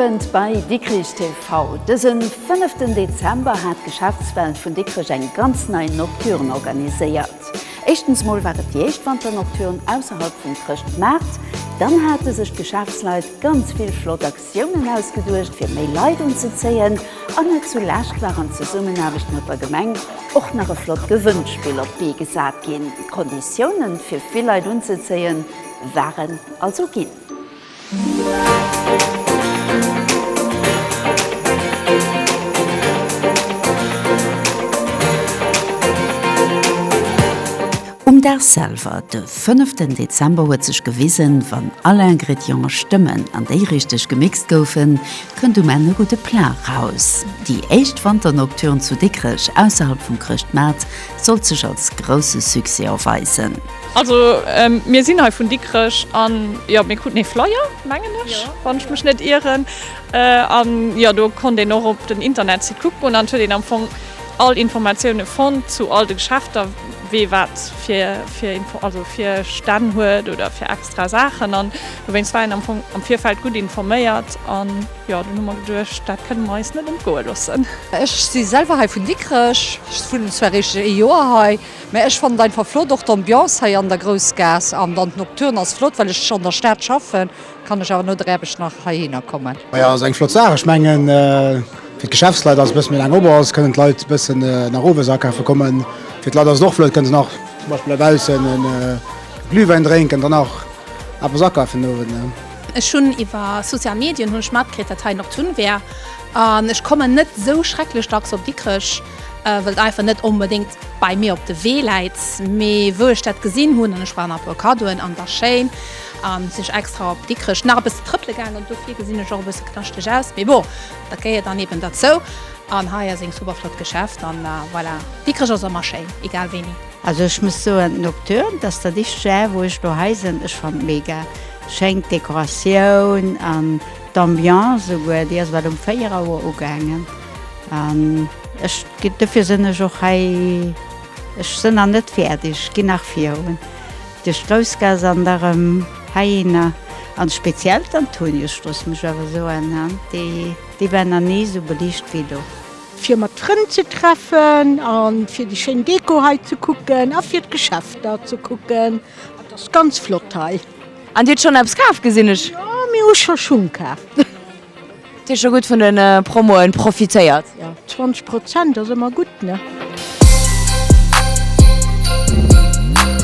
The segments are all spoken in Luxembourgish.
Owend bei Dikrich TV. Dësen 5. Dezember hat d'Geschäftswelt vun Dikrech eng ganz nei Nocturne organiséiert. Éischtens mol war et déi éischt Wanternocturne ausserhalb vum Chrëschtmaart. Dann hate sech d'Geschäftsleit ganz vill flott Aktiounen ausgeduecht, fir méi Leit unzezéien. An net zu lescht war an Zesummenaarbecht mat der Gemeng och nach e flott Gewënnspill op d'Bee gesat ginn. D'Konditiounen, fir vill Leit unzezéien, waren also ginn. Um Dag selwer, de fënneften Dezember, huet sech gewisen, wann all Ingrédienten stëmmen an déi richteg gemixt goufen, kënnt um Enn e gudde Plat raus. Déi éischt Wanternocturne zu Dikrech ausserhalb vum Chrëschtmaart sollt sech als grousse Succès erweisen. Also mir sinn hei vun Dikrech an jo mir kruten ee Flyer mengen ech wann ech mech net ieren an jo do konnt een och op den Internetsite kucken an huet een am Fong all Informatioune fonnt zu all de Geschäfter wee wat fir fir Info also fir Stänn huet oder fir extra Saachen an dowéinst war een am Fong am Virfeld gutt informéiert an jo dunn hu mer geduecht dat kënne mer eis net entgoe loossen. Ech si selwer hei vun Dikrech, ech wunnen zwar eréischt ee Joer hei. Mä ech fannen et einfach flott, och d'Ambiance hei an der Groussgaass an dann d'Nocturne ass flott. Well ech an der Stad schaffen, kann ech awer no der Aarbecht nach heihinner kommen. Majo, ass eng flott Saach. Ech mengen, fir d'Geschäftsleit ass et e bësse méi laang op, awer se kënnen d'Leit e bëssen nach owes akafe kommen. Fir d'Leit ass et och flott, kënne se nach zum Beispill dobaussen e Glühwäin drénken an dann nach eppes akafen den Owend. Ech hunn iwwer Social Medien hunn ech matkritt, dat hei Nocturne wär an ech kommen net esou schrecklech dacks op Dikrech. Well et einfach net onbedéngt bei mir op de Wee läit, mee wou ech dat gesinn hunn an ech brauch nach e puer Kaddoen an der Chaîne, sinn ech extra op Dikrech nach e bësse trëppele gaangen. Dofir gesinn ech och e bësse knaschteg aus, mee bon, dat gehéiert dann eben derzou. An hei ass een super flott Geschäft an voilà, Dikrech ass ëmmer schéin, egal wéini. Also ech muss soen, Nocturne, dass dat éischt Jahr wou ech dohei sinn, ech fannt mega schéin d'Dekoratioun an d'Ambiance souguer, déi ass wat um 4 Auer ugaangen. An ech ginn dofir sinn ech och hei. Ech sinn nach net fäerdeg, ech ginn nach virun duerch d'Groussgaass an da rëm heihinner an speziell d'Antoniusstrooss, muss ech awer soen, déi war nach ni esou beliicht wéi elo. Fir mat Frënn ze treffen a fir déi schéin Deko hei ze kucken a fir d'Geschäfter ze kucken. Et ass ganz flott hei. An Dir hutt schonn eppes kaf, gesinn ech? Jo, mir hu scho Schung kaf. Hutt Dir scho gutt vun den Promoen profitéiert? 20 Prozent ass ëmmer gutt, ne?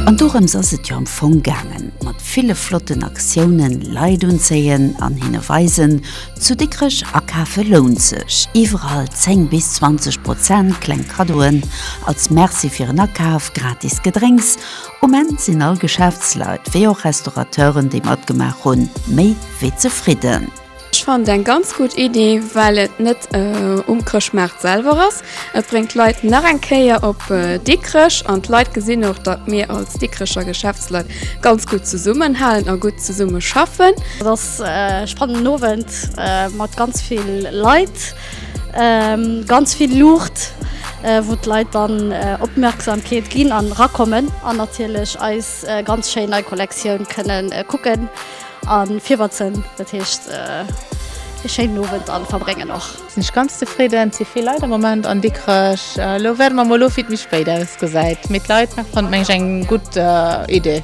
An dorëms ass et jo am Fong gaangen, mat ville flotten Aktiounen, Leit unzéien an hinne weisen, zu Dikrech akafe lount sech, iwwerall 10 bis 20 Prozent, kleng Kaddoen als Merci fir en Akaf, gratis Gedrénks Um Enn sinn all Geschäftsleit, wéi och Restaurateuren, déi matgemaach hunn, méi wéi zefridden. Ech fannen eng ganz gutt Iddi, well et net um Chrëschtmaart selwer ass. Et bréngt d'Leit nach eng Kéier op Dikrech an d'Leit gesinn och, datt mir als Dikrecher Geschäftsleit ganz gutt zesummenhalen a gutt zesumme schaffen. Et ass e spannenden Owend mat ganz vill Leit. Ganz vill Luucht wou d'Leit dann Opmerksamkeet ginn an rakommen an natierlech eis ganz schéin nei Kollektioun kënnen kucken an virwetzen. Dat heescht ee schéinen Owend an verbréngen och. Sinn ech ganz zefridden. Et si vill Leit am Moment an Dikrech. Elo wäerte mer mol ofwiet méi spéit ausgesäit. Mee d'Leit fanne mengen ech eng gutt Idee.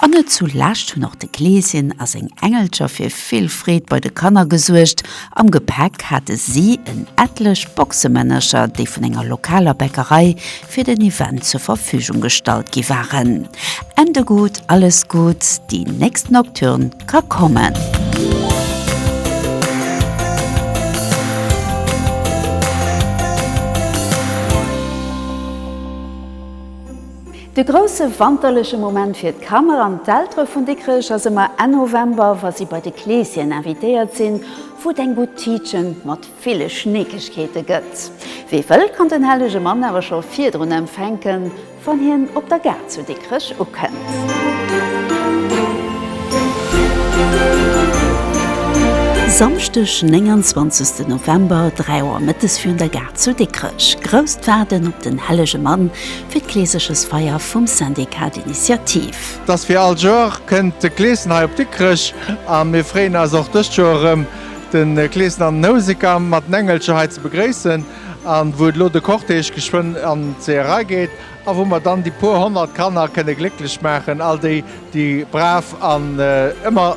An net zu lescht hunn och de Kleeschen a seng Engelcher fir vill Freed bei de Kanner gesuergt. Am Gepäck hate si en etlech Boxemännercher, déi vun enger lokaler Bäckerei fir den Event zur Verfügung gestallt gi waren. Ende gutt, alles gutt, déi nächst Nocturne ka kommen! De grousse wanterleche Moment fir d'Kanner an d'Eltere vun Dikrech ass ëmmer Enn November, wa si bei de Kleesschen invitéiert sinn, wou et eng Boutique mat ville Schneekegkeete gëtt. Wee wëll, kann den hellege Mann awer scho virdrun empfänken, wann hien op der Gare zu Dikrech ukënnt. Samschdeg, 29 November, 3 Auer mëttes virun der Gare zu Dikrech. Grousst Waarden op den hellege Mann fir d'Gleesegesfeier vum Syndicat d'Initiative. Dass fir all Joer kënnt de Gleeschen hei op Dikrech a mir freeën eis och dëst Joer erëm de Gleeschen an den Houseker mat den Engelcher hei ze begréissen an wou et elo de Cortège geschwënn an d'Seeërei geet a wou mer dann déi puer honnert Kanner kënne glécklech maachen, all déi Déi brav an ëmmer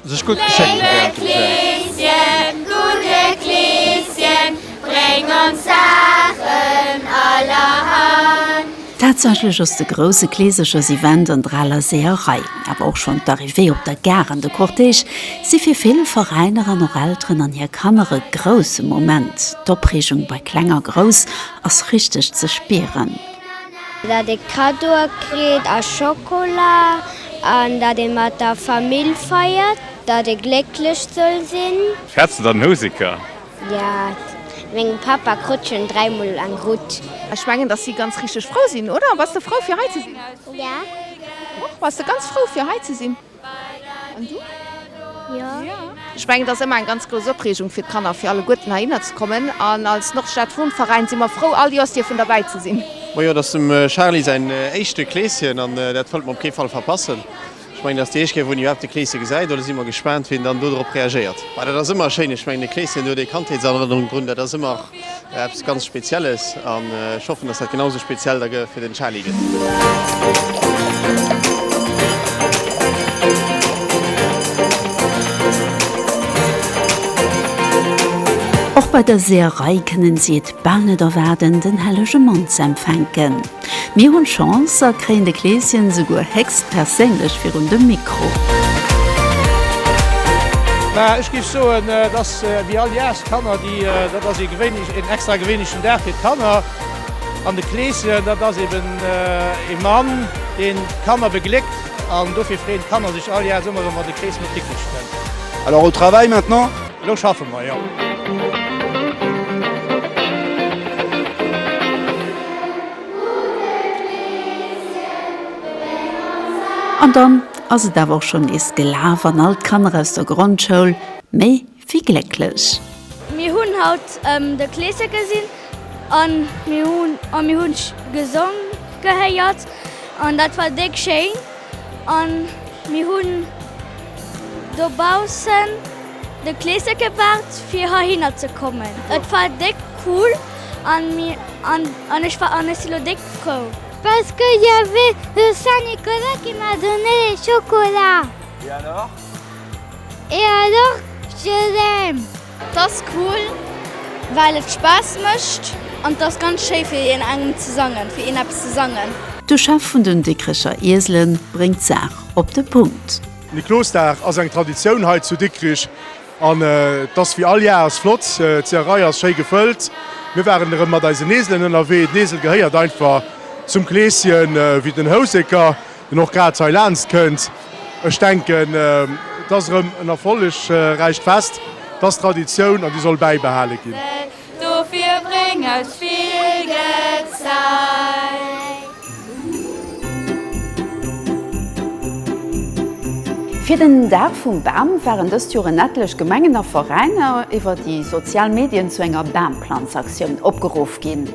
sech gutt geschéckt wärend dem Jazz. Léiwe Kleeschen, gudde Kleeschen, bréng ons Saachen allerhand. Tatsächlech ass de grousse Kleeserchersevent an d'Raler Seeërei, awer och schonn d'Arrivée op der Gare an de Cortège si fir vill Veräiner an och Elteren an hir Kanner e grousse Moment. D'Opreegung bei Kleng a Grouss ass richteg ze spieren. Dat ee Cadeaue kritt a Schokola an dat ee mat der Famill feiert, dat ee glécklech soll sinn. Fäerts de dann en Houseker? Jo, mengem Papa krut schon dräi mol eng Rutt. Ech mengen dass si ganz richteg frou sinn, oder? Bass de frou fir hei ze sinn? Jo. Och? Bass de ganz frou fir hei ze sinn? An du? Jo. Ech mengen, et ass ëmmer eng ganz grouss Opreegung fir d'Kanner, fir alleguerten heihinner ze kommen. An als Nordstad-Wohnverein si mer frou, all Jooss dierfen derbäi ze sinn. Mojo, et ass dem Charly säin éischte Kleeschen an dat wëllt mer op kee Fall verpassen. Ech mengen, et ass déi éischt Kéier, wou en iwwerhaapt e Kleeschen gesäit. Elo si mer gespaant, wéi en dann dodrop reagéiert. Mä dat ass ëmmer schéin. Ech mengen, e Kleeschen huet ee Kandheetserënnerung drun. Dat ass ëmmer Eppes ganz spezielles an ech hoffen dass dat genau esou speziell da fir den Charly gëtt. Och bei dëser Rei kënnen si et bal net erwaarden den hellege Mann ze empfänken. Mir hunn Chance a kréien de Kleeschen esouguer héchstperséinlech virun de Mikro. Mä ech géif soen, et ass wéi all Jas, d'Kanner, déi, dat ass ee gewéinlech, een extra gewéinlechen Dag fir d'Kanner. An de Kleeschen, dat ass eben ee Mann, deen d'Kanner begléckt. An dofir freeën d'Kanner sech all Jas ëmmer erëm, wann de Kleeschen op d'Dickicht kënnt. Alors au travail maintenant! Elo schaffe mer, jo. An dann ass et awer och schonn nees gelaf an all d'Kanner aus der Grondschoul méi wéi glécklech. Mir hunn haut de Kleesche gesinn an mir hunn gesong gehéiert an dat war déck schéin. An mir hunn dobaussen de Kleeschen gewaart fir heihinner ze kommen. Et war déck cool an mir an ech war an ech si lo déck frou. Parce que il y avait le Saint Nicolas qui m'a donné les chocolats. Et alors? Et alors je l'aime. 't ass cool well et Spaass mécht an 't ass ganz schéi fir een engem ze sangen, fir een eppes ze sangen. De Chef vun den Dikricher Ieselen bréngt d'Saach op de Punkt. Niklosdag ass eng Traditioun hei zu Dikrich an 't ass wéi all Jahrs flott. D'Zieherei ass schéi gefëllt. Mir waren erëm mat eisen Eselen ënnerwee. Den Esel gehéiert einfach zum Kleeschen wéi den Houseker. deen och grad heilaanscht kënnt. Ech denken, et ass erëm en erfollegräicht Fest, et ass Traditioun an déi soll bäibehale ginn. Dofir bréng aus vill Gezei. Fir den Dag vum Bam waren dëst Joer en etlech Gemengen a Veräiner iwwer déi sozial Medien zu enger Bamplanzaktioun opgeruff ginn.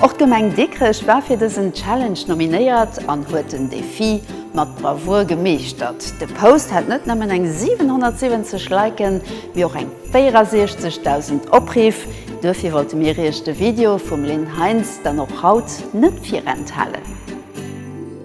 Och d'Gemeng Dikrech war fir dësen Challenge nominéiert an huet den Defi mat Bravour gemeeschtert. De Post hat net nëmmen eng 770 Liken, mee och eng 64.000 Opriff. Duerfir wollte mir iech de Video vum Lynn Heinz dann och haut net virenthalen.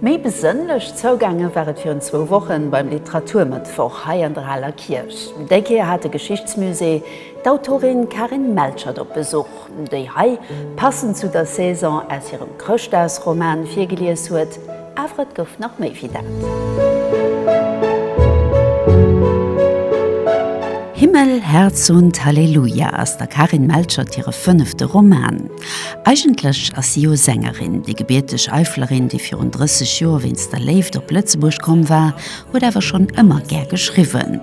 Méi besënnlech zougaange war et virun zwou Wochen beim Literaturmëttwoch hei an der Aler Kierch. Déi Kéier hat de Geschichtsmusée d'Autorin Karin Melchert op Besuch. déi hei passend zu der Saison aus hirem Chrëschtdagsroman virgelies huet, awer et gouf nach méi wéi dat. Himmel, Herz und Halleluja ass der Karin Melchert hire fënnefte Roman. Eigentlech ass si jo Sängerin. Déi gebierteg Eifelerin, déi virun 30 Joer wéinst der Léift op Lëtzebuerg komm war, huet awer schonn ëmmer gär geschriwwen.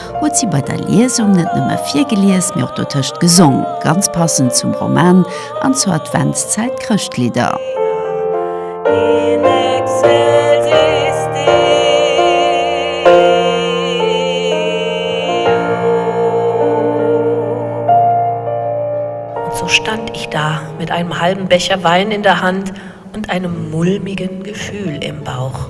huet si bei der Liesung net nëmme virgelies, mee och dotëscht gesong, ganz passend zum Roman an zur Adventszäit, d'Chrëschtlidder. Und so stand ich da mit einem halben Becher Wein in der Hand und einem mulmigen Gefühl im Bauch.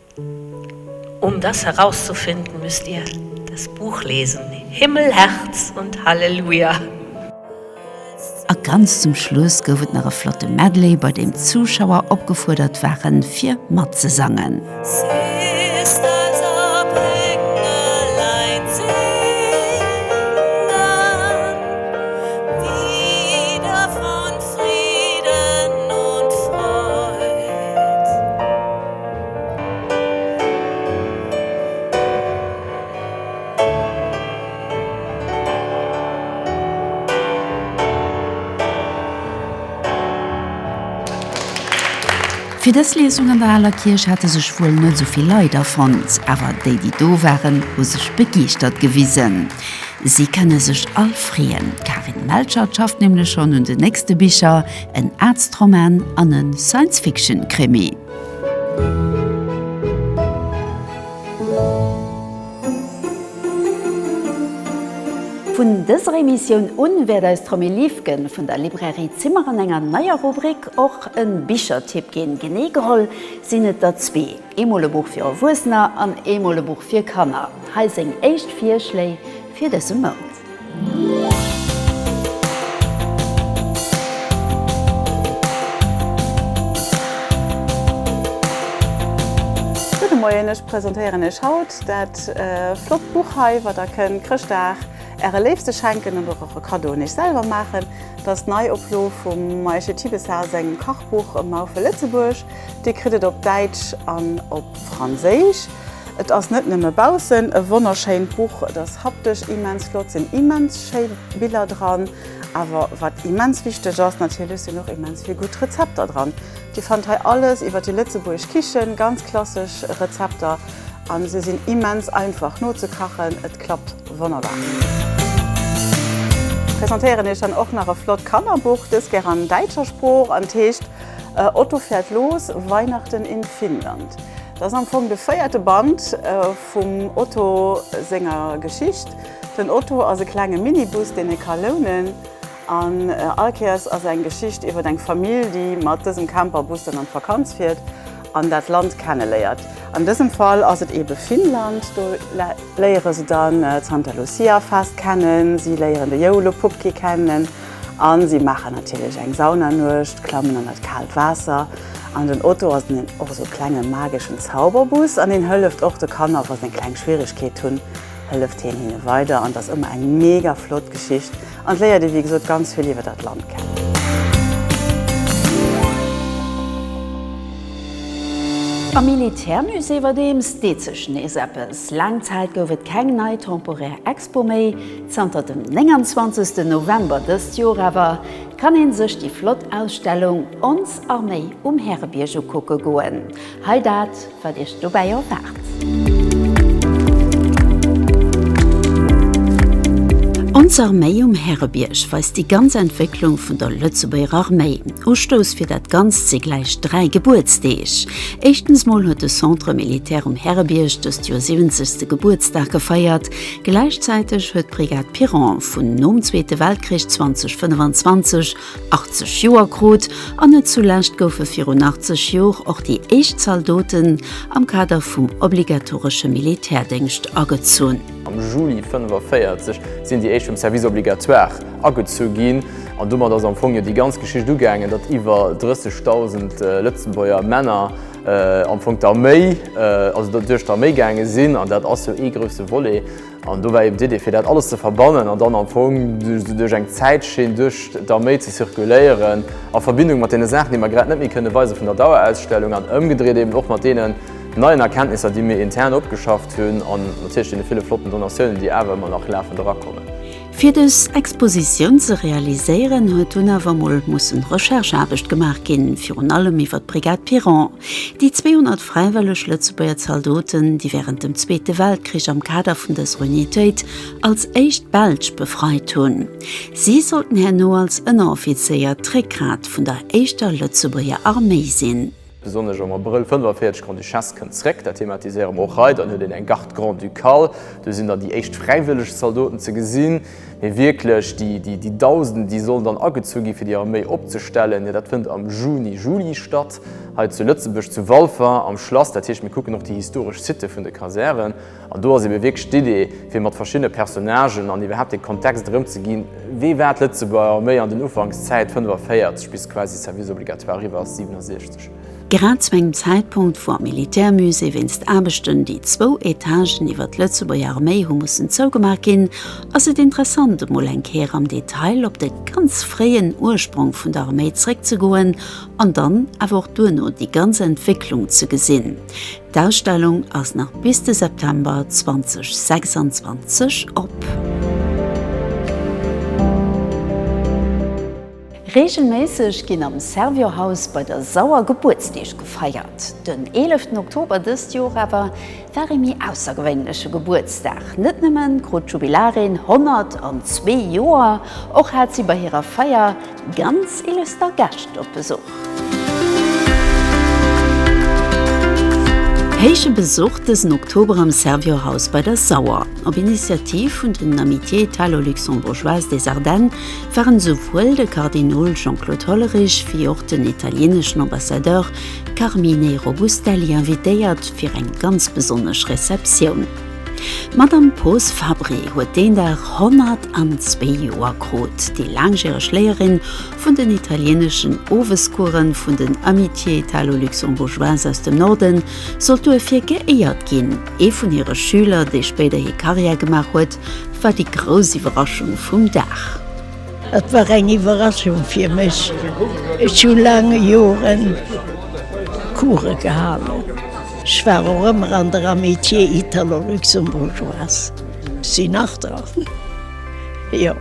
Um das herauszufinden, müsst ihr das Buch lesen, Himmel, Herz und Halleluja! A ganz zum Schluss gouf et nach e flotte Medley, bei deem d'Zuschauer opgefuerdert waren, fir matzesangen. Fir dës Liesung an der Aler Kierch hate sech wuel net esou vill Leit afonnt, awer déi, déi do waren, hu sech begeeschtert gewisen. Si kënne sech all freeën, d'Karin Melchert schafft nämlech schonn un den nächste Bicher, en Arztroman an e Science-Fiction-Krimi. Vun dëser Emissioun un wäert eis d'Romy Liefke vun der Librairie Zimmer an enger neier Rubrik och e Bichertipp ginn. Genee geholl sinn et der zwee, eemol e Buch fir Erwuessener an eemol e Buch fir Kanner. Hei seng éischt Virschléi fir dëse Mount. Gudde Moien, ech presentéieren Iech haut dat flott Buch hei, wat der kënnt Chrëschtdag äre Léifste schenken oder och e Kaddo un Iech selwer maachen. Et ass d'Neioplo vum Maïche Thibessart sengem Kachbuch Maufel Lëtzebuerg. Dir kritt et op Däitsch an op. Franséisch. Et ass net nëmme baussen e wonnerschéint Buch, et ass haptesch immens flott, sinn immens schéi Biller dran, awer wat immens wichteg ass, natierlech sinn och immens vill gutt Rezepter dran. Dir fannt hei alles iwwer déi lëtzebuergesch Kichen, ganz klassesch Rezepter a se sinn immens einfach nozekachen, et klappt wonnerbar. Presentéieren iech dann och nach e flott Kannerbuch, dëst gär an däitscher Sprooch an heescht. E Otto fährt los, Weihnachten in Finnland. Dat ass am Fong de véierte Band vum Otto senger Geschicht. Den Otto ass e klenge Minibus, deen ee ka lounen, an all Kéiers ass eng Geschicht iwwer eng Famill, déi mat dësem Camperbus dann an d'Vakanz fiert an dat Land kenneléiert. An dësem Fall ass et eebe Finnland. Do léiere se dann d'Santa Lucia-Fest kennen, si léieren de Joulupukki kennen, a si maachen natierlech eng Saunanuecht, klammen an dat kaalt Waasser. An den Otto ass en och esou e klenge mageschen Zauberbus an hien hëlleft och de Kanner, wa se eng kleng Schwieregkeet hunn, hëlleft hien hinne weider. An et ass ëmmer eng mega flott Geschicht an et léiert ee wéi gesot ganz vill iwwer dat Land kennen. Am Militärmusée iwwerdeems deet sech nees eppes. Laang Zäit gouf et keng nei temporär Expo méi. Zanter dem 29 November dëst Joer awer kann een sech déi flott Ausstellung Ons Arméi um Härebierg ukucke goen. Hei dat wat iech dobäi erwaart. Ons Arméi um Härebierg weist déi ganz Entwécklung vun der Lëtzebuerger Arméi. Ustouss fir dat Ganzt si gläich dräi Gebuertsdeeg. Éischtens mol huet de Centre Militaire um Härebierg dëst Joer 70. Gebuertsdag gefeiert Gläichzäiteg huet d'Brigade Piron vun nom Zweete Weltkrich 2025 80 Joer krut an net zulescht goufe virun 80 Jor och déi éischt Zaldoten am Kader vum obligatoresche Militärdéngscht agezunn. Am Juli 1945 sinn déi éischt vum Service obligatoire agezu ginn an domat ass am Fong jo déi ganz Geschicht ugaangen, datt iwwer 30.000 Lëtzebuerger Männer, am Fong d'Arméi, also datt duerch d'Arméi gaange sinn an dat ass jo ee grousse Volet. An do war eben d'Idee fir dat alles ze verbannen an dann am Fong duerch eng Zäitschinn duerch d'Arméi ze zirkuléieren a Verbindung mat deene Saachen, déi mer grad net méi kënne weise vun der Dauerausstellung an ëmgedréit eben och mat deenen neien Erkenntnisser, déi mir intern opgeschafft hunn an natierlech deene ville flotten Donatiounen, déi awer ëmmer nach lafen erakommen. Fir dës Expositioun ze realiséieren, huet dunn awer emol mussen Rechercheaarbecht gemaach ginn, virun allem iwwer d'Brigade Piron, déi 200 fräiwëlleg Lëtzebuerger Zaldoten, déi wärend dem Zweete Weltkrich am Kader vun dëser Unitéit als éischt d'Belsch befreit hunn. Si sollten herno als Ënneroffizéier d'Réckgrat vun der éischter Lëtzebuerger Arméi sinn. Besonnesch am Abrëll 45 Grand-Duchesse kënnt zréck, dat thematiséiere mer och hei. Dann huet een eng Garde Grand-Ducale, do sinn dann déi éischt fräiwëlleg Zaldoten ze gesinn. Mee wierklech déi Dausenden, déi sollen dann agezu gi fir déi Arméi opzestellen, jo dat fënnt am Juni, Juli statt hei zu Lëtzebuerg, zu Walfer am Schlass. Dat heescht, mir kucken och déi historesch Sitë vun de Kasären. An do ass ebe wierklech d'Idee, fir mat verschiddene Personnagen an iwwerhaapt dee Kontext erëmzeginn, wéi war d'Lëtzebuerger Arméi an den Ufankszäit 45 bis quasi de Service obligatoire eriwwer ass 67. Grad zu engem Zäitpunkt, wou am Militärmusée wéinst Aarbechten déi zwou Etagen iwwer d'Lëtzebuerger Arméi hu mussen zougemaach ginn, ass et interessant emol eng Kéier am Detail op de ganz fréien Ursprong vun der Arméi zréckzegoen an dann awer och duerno déi ganz Entwécklung ze gesinn, D'Ausstellung ass nach bis de September 2026 op. Reegelméisseg ginn am Servior-Haus bei der Sauer Gebuertsdeeg gefeiert. Den eeleften Oktober dëst Joer awer war ee méi aussergewéinleche Gebuertsdag. Net nëmmen krut d'Jubilarin 102 Joer, och hat si bei hirer Feier Ganz illüster Gäscht op Besuch. Héiche Besuch dësen Oktober am Servior Haus bei der Sauer. Op Initiativ vun den Amitiés italo-luxembourgeoises des Ardennes waren esouwuel de Kardinol Jean-Claude Hollerich wéi och den italieneschen Ambassadeur Carmine Robustelli invitéiert fir eng ganz besonnesch Receptioun. D'Madame Poos Fabry huet deen Dag 102 Joer krut. Déi laangjäreg Léierin vun den italieeneschen Owescoursen vun den Amitiés italo-luxembourgeoises aus dem Norden sollt duerfir geéiert ginn. Ee vun hire Schüler, dee spéider hir Karriär gemaach huet, war déi grouss Iwwerraschung vum Dag. Et war eng Iwwerraschung fir mech. Ech hu laang Joren Course gehalen. Ech war och ëmmer an der Amitié italo-luxembourgeoise, si nach dran, jo,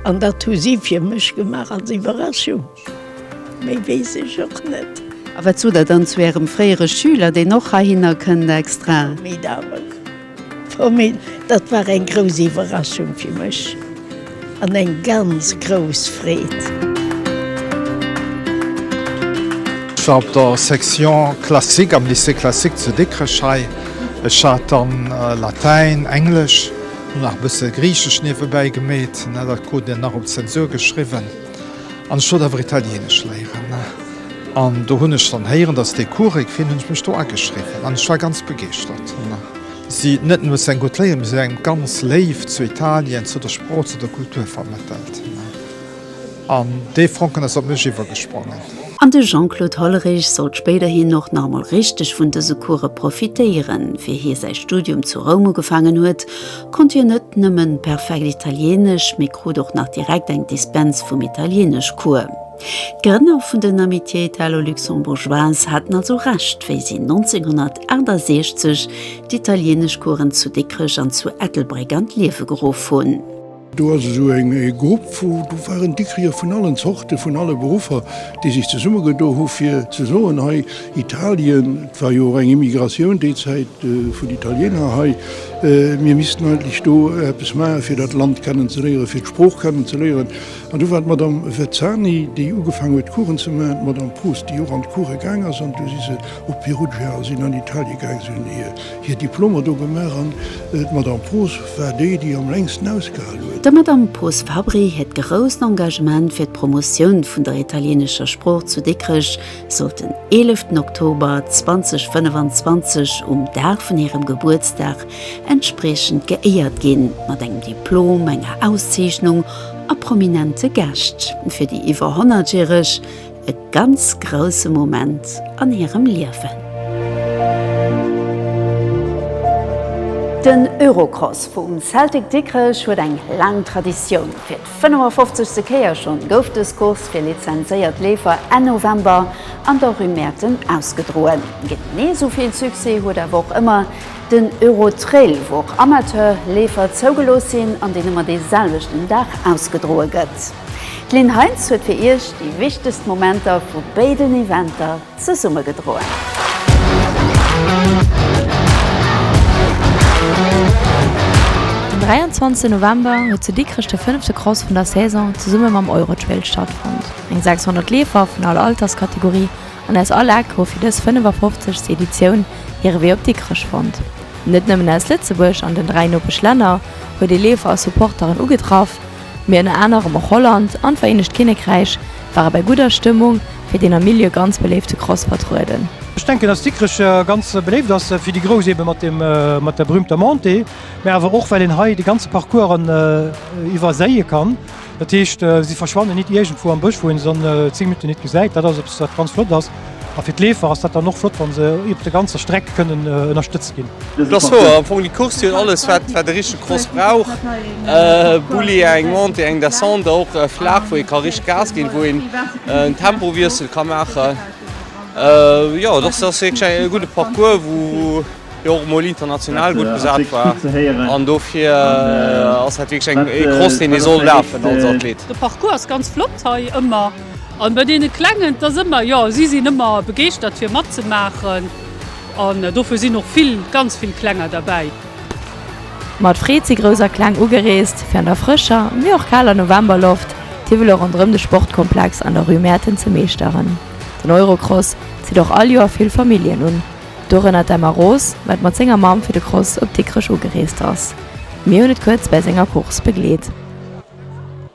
an dat hu si fir mech gemaach als Iwwerraschung, méi weess ech och net. A wat sot Der dann zu Ärem fréiere Schüler, deen och heihinner kënnt extra? Formidabel. Frau Mehn, Dat war eng grouss Iwwerraschung fir mech an eng ganz grouss Freed. Ech war op der Section classique am Lycée classique zu Dikrech hei. Ech hat dann Latäin, Englesch an nach e bësse Griichesch niewebäi gemeet, dat krut een nach op d'Zensur geschriwwen. An ech wollt awer Italienesch léieren. An do hunn ech dann héieren, dass dee Cours e ginn, hunn ech mech do ageschriwwen an ech war ganz begeeschtert. Si hunn net nëmme eng gutt Léier, mee si hunn eng ganz Léift zu Italien, zu der Sprooch, zu der Kultur vermëttelt. An dee Fonken ass op mech iwwergesprongen. An de Jean-Claude Hollerich sollt spéiderhin och nach emol richteg vun dëse Coursë profitéieren, fir hie säi Studium zu Roum ugefaangen huet, Konnt hien net nëmmen perfekt Italieenesch, mee krut och nach direkt eng Dispens vum Italieeneschcours. D'Grënner vun den Amitiés italo-luxembourgeoises haten also Recht, wéi si 1968 d'Italieeneschcoursen zu Dikrech an zu Ettelbréck an d'Liewe geruff hunn. Do ass esou e Grupp, wou do waren Dikricher vun allen Zorten, vun alle Beruffer, déi sech zesummegedo hu fir ze soen, hei Italien, et war jo och eng Immigratioun déi Zäit vun Italieener hei, Mir missten eigentlech do eppes maachen, fir dat Land kennen ze léieren, fir d'Sprooch kennen ze léieren. An do war d'Madame Vezzani, déi ugefaangen huet, Coursen ze maachen, d'Madame Proust, déi och an d'Course gaang ass, an du si se op Perugia a sinn an Italien gaangen. Si hunn hir Diplomer do gemaach an d'Madame Proust war déi, déi am längsten ausgehal huet. Der Madame Proust Fabri hiert grousst Engagement fir d'Promotioun vun der italieenescher Sprooch zu Dikrech, sollt den 11 Oktober 2025 um Dag vun hirem Gebuertsdag entspriechend geéiert ginn, mat engem Diplom, enger Auszeechnung a prominente Gäscht. Fir déi iwwer 100 järeg e ganz grousse Moment an hirem Liewen. Den Eurocross vum Celtic Dikrech huet eng laang Traditioun. 55. Kéier schonn gouf dës Course fir lizenzéiert Leefer Enn November an der Rue Mäerten ausgedroen. Genee esou vill Succès huet awer och ëmmer den Eurotrail, wou och Amateur-Leefer zougelooss sinn an deen ëmmer dee selwechten Dag ausgedroe gëtt. D'Lynn Heintz huet fir Iech déi wichtegst Momenter vu béiden Eventer zesummegedroen. Den 23 November huet zu Dikrech de fënnefte Cross vun der Saison zesumme mam Eurotrail stattfonnt. Eng 600 Leefer vun all Alterskategorie an aus all Eck hu fir dës 55. Editioun hire Wee op Dikrech fonnt. Net nëmmen aus Lëtzebuerg an den dräi Nopeschlänner huet ee Leefer a Supporteren ugetraff, mee ënner anerem och Holland an d'Vereenegt Kinnekräich, War e bei gudder Stëmmung fir deen am Milieu ganz beléifte Cross vertrueden. Ech denken dass Dikrech ganz beléift ass fir déi Grouss eben mat dem mat der berühmter Montée, mä awer och well een hei de ganze Parcours an iwwerséie kann. Dat heescht si verschwannen nit iergendwou am Bësch wou een se dann 10 Minutten nit gesäit. Dat ass eppes wat ganz flott ass. A fir d'Leefer ass dat dann och flott, wa se iwwert der ganzer Streck kënnen ënnerstëtzt ginn. Et ass wouer, am Fong déi Course, déi huet alles, wat e richtege Cross brauch. E Bulli, eng Montée, eng Descente, och flaach, wou ee ka richteg Gas ginn, wou een en Tempowiessel ka maachen. Jo, et ass wierklech e gudde Parcours, wou och emol international gutt besat war. An dofir ass dat wierklech e Cross, deen ee soll lafen als Athlet. De Parcours ass ganz flott hei ëmmer. An bei deene Klengen, et ass ëmmer, jo, si sinn ëmmer begeeschtert fir matzemaachen an dofir sinn och vill, ganz vill Klenger derbäi. Mat Freed si Grouss a Kleng ugereest fir an der frëscher, mee och kaler Novemberloft d'Hiwwele ronderëm de Sportkomplex an der Rue Mäerten ze meeschteren. Den Eurocross zitt och all Joer vill Familljen un, dorënner d'Emma Roos, wat mat senger Mamm fir de Cross op Dikrech ugereest ass. Mir hunn et kuerz bäi senger Course begleet.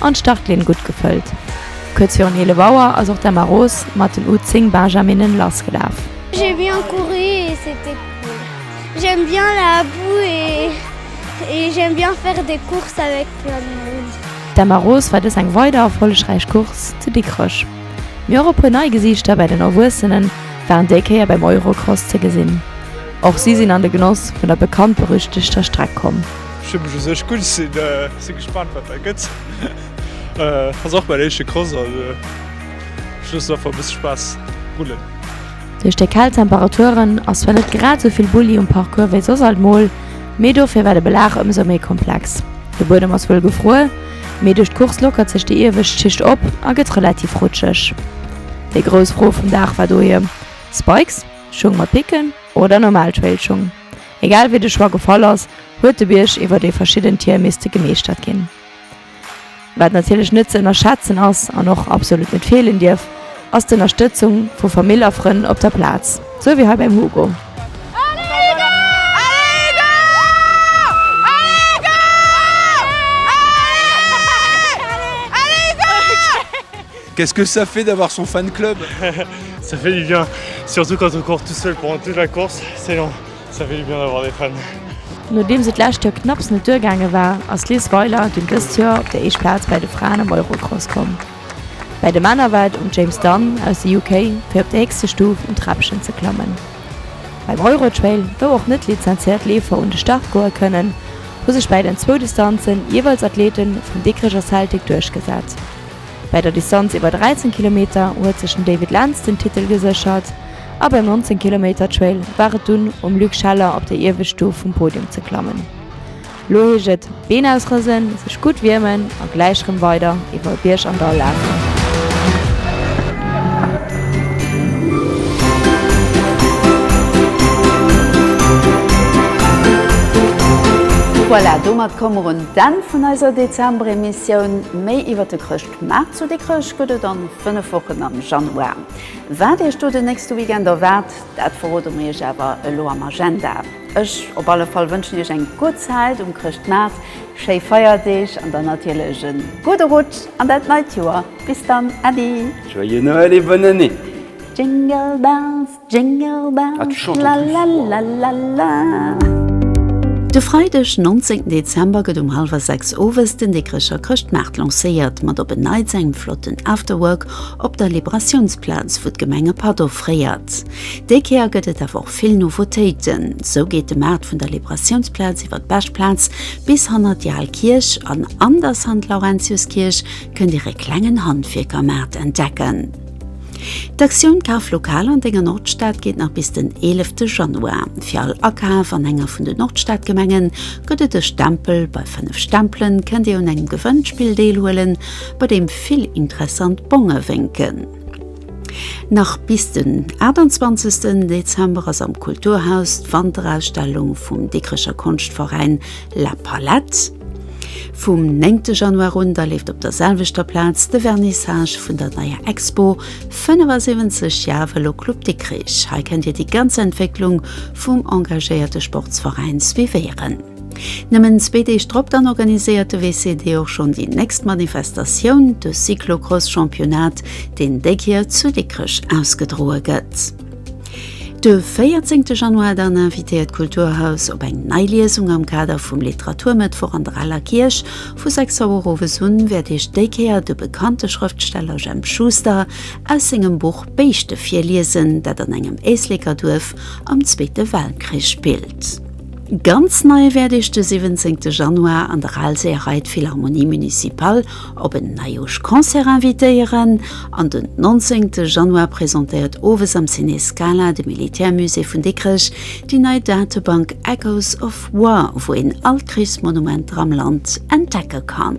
An d'Startlinn gutt gefëllt. Kuerz virun 11 Auer ass och d'Emma Roos mat den U 10 Benjaminnen lass gelaf. J'ai bien couru et c'etait cool. J'aime bien la boue et j'aime bien faire des courses avec plein de monde. D'Emma Roos war dës eng weider erfollegräich Course zu Dikrech. Mee och e puer nei Gesiichter bei den Erwuessene waren déi Kéier beim Eurocross ze gesinn. Och si sinn an de Genoss vun der bekannt-berüchtegter Streck komm. Ech hunn mech u sech gutt. Sinn gespannt wat dat gëtt. Ass och mäin éischte Cross also ech loossen einfach e bësse Spaass rullen. Duerch déi kal Temperaturen ass zwar net grad esou vill Bulli um Parcours wéi soss alt mol, mee dofir war de Belag ëmsou méi komplex. De Buedem ass wuel gefruer, mee duerch d'Course lockert sech déi iewescht Schicht op a gëtt relativ rutscheg. Déi grouss Fro vum Dag war dohier, Spikes, Schung mat Picken oder normal Trailschung? Egal wéi de Choix gefall ass, huet de Bierg iwwer déi verschidden Tier misste gemeeschtert ginn. Wat natierlech net ze ënnerschätzen ass an och absolut net feelen dierf, ass d'Ënnerstëtzung vu Famill a Frënn op der Plaz, sou wéi hei beim Hugo. Qu'est-ce que ça fait d'avoir son fan club? Ça fait du bien, surtout quand on court tout seul pendant toute la course, c'est long, ça fait du bien d'avoir des fans. Nodeems et d'lescht Joer knapps net duergaange war, ass d'Liz Weiler dunn dëst Joer op déi éischt Plaz bäi de Fraen am Eurocross komm. Bäi de Männer war et um James Dunn aus de UK fir op déi héchste Stuf um Träppchen ze klammen. Beim Eurotrail, wou och net lizenzéiert Leefer un de Start goe kënnen, hu sech bäi den zwou Distanzen jeeweils Athlete vum Dikricher Celtic duerchgesat. Bei der Distanz iwwer 13 Kilometer huet sech den David Lentz den Titel geséchert a beim 19 Kilometer Trail war et dunn um Luc Scheller op déi iewescht Stuf vum Podium ze klammen. Lo heescht et Been ausrësen, sech gutt wiermen a gläich rëm weider iwwer Bierg an Dall lafen. Voilà, domat komme mer un D'Enn vun eiser Dezember-Emissioun. Méi iwwer de Chrëschtmaart zu Dikrech gëtt et an 5 Wochen am Januar. Wat Iech do den nächste Weekend erwaart, dat verrode mer Iech awer elo am Agenda. Ech op alle Fall wënschen Iech eng gutt Zäit um Chrëschtmaart, schéi Feierdeeg an dann natierlech e gudde Rutsch an dat neit Joer. Bis dann, Äddi! Joyeux Noël et bonne année! Jingle bells! Jingle bells, la la la la la. De Freideg 19 Dezember gëtt um hallwer 6 owes den Dikrecher Chrëschtmaart lancéiert, mat op en Neits engem flotten Afterwork op der Liberatiounsplaz, wou d'Gemeng e Patt offréiert. Déi Kéier gëtt et awer och vill Nouveautéiten. Sou geet de Maart vun der Liberatiounsplaz iwwer d'Beschplaz bis hanner déi al Kierch an an der Sankt-Laurentius-Kierch kënnt dir e klengen Handwierkermaart entdecken. D'Aktioun Kaf lokal an denger Nordstad geet nach bis den 11 Januar. Fir all Akaf an enger vun den Nordstadgemengen gëtt et e Stempel. Bei 5 Stempelen kënnt dir un engem Gewënnspill deelhuelen, bei deem vill interessant Bonge wénken. Nach bis den 28 Dezember ass am Kulturhaus d'Wanterausstellung vum Dikrecher Konschtveräin La Palette. Vum 9 Januar un da leeft op der selwechter Plaz de Vernissage vun der neier Expo 75 Jar Velo Club Dikrich. Hei kënnt Dir déi ganz Entwécklung vum engagéierte Sportsveräin suivéieren. Nëmmen zwee Deeg drop dann organiséiert de WCD och schonn déi nächst Manifestatioun, de Cyclocross-Championnat, deen déi Kier zu Dikrech ausgedroe gëtt. De 14 Januar dann invitéiert d'Kulturhaus op eng nei Liesung am Kader vum Literaturmëttwoch an der Aler Kierch. Vu 6 Auer owes un wäert Iech déi Kéier de bekannte Schrëftsteller Jemp Schuster aus sengem Buch Béischte virliesen, dat an engem Éisleker Duerf am Zweete Weltkrich spillt. Ganz nei wäert Iech de 17 Januar an der Alséerei d'Philharmonie Municipale op en Neijooschconcert invitéieren an den 19 Januar presentéiert owes am Ciné Scala de Militärmusée vun Dikrech déi nei Datebank Echoes of War, wou een all d'Krichsmonumenter am Land entdecke kann.